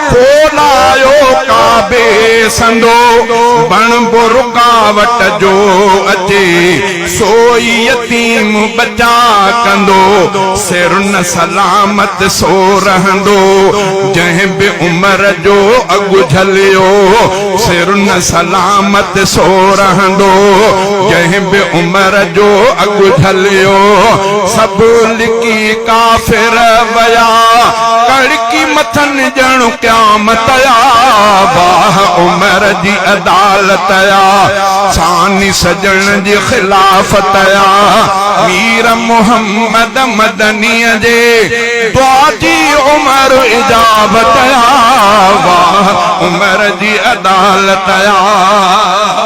ڪو نه آيو ڪعبي سندو بڻبو رڪاوٽ جو اچي سو ئي يتيم ٻچا ڪندو سر نه سلامت سو رهندو جنهن به عمر جو اڳ جهليو سر نه سلامت سو رهندو جنهن به عمر جو اڳ جهليو سڀ لڪي ڪافر ويا باقي مٿن ڄڻ قيامت آ، واھ عمر جي عدالت آ، ثاني سڄڻ جي خلافت آ، مير محمد مدنيء جي دعا جي عمر اجابت آ، واھ عمر جي عدالت آ.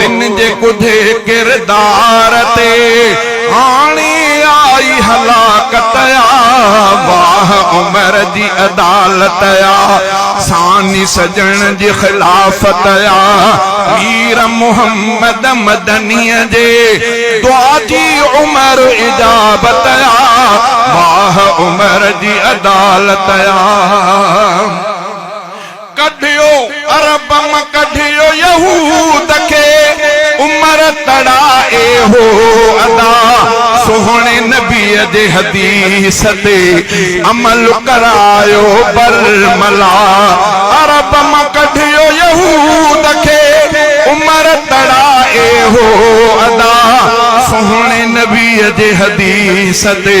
هن جي ڪوجهي ڪردار تي هاڻي آئي هلاڪت آ، واهه عمر جي عدالت آ، ثاني سڄڻ جي خلافت آ، مير محمد مدنيء جي دعا جي عمر اجابت آ، واهه عمر جي عدالت آ. ڪڍيو عربم ڪڍيو يهود کي عمر تڙائي هو ادا سهڻي نبي جي حديث تي عمل ڪرايو برملا عربم ڪڍيو يهود کي عمر تڙائي هو ادا سهڻي نبي جي حديث تي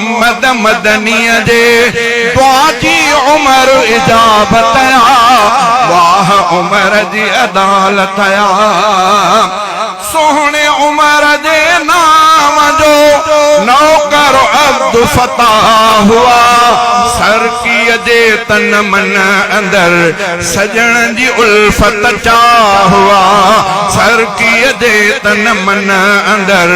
محمد مدنيء جي دعا جي عمر اجابت آ، واھ عمر جي عدالت آ، سهڻي عمر جي نانء جو نوڪر عبدالفتاح آ، سرڪيء جي تن من اندر سڄڻ جي الفت چاھ آ، سرڪيء جي تن من اندر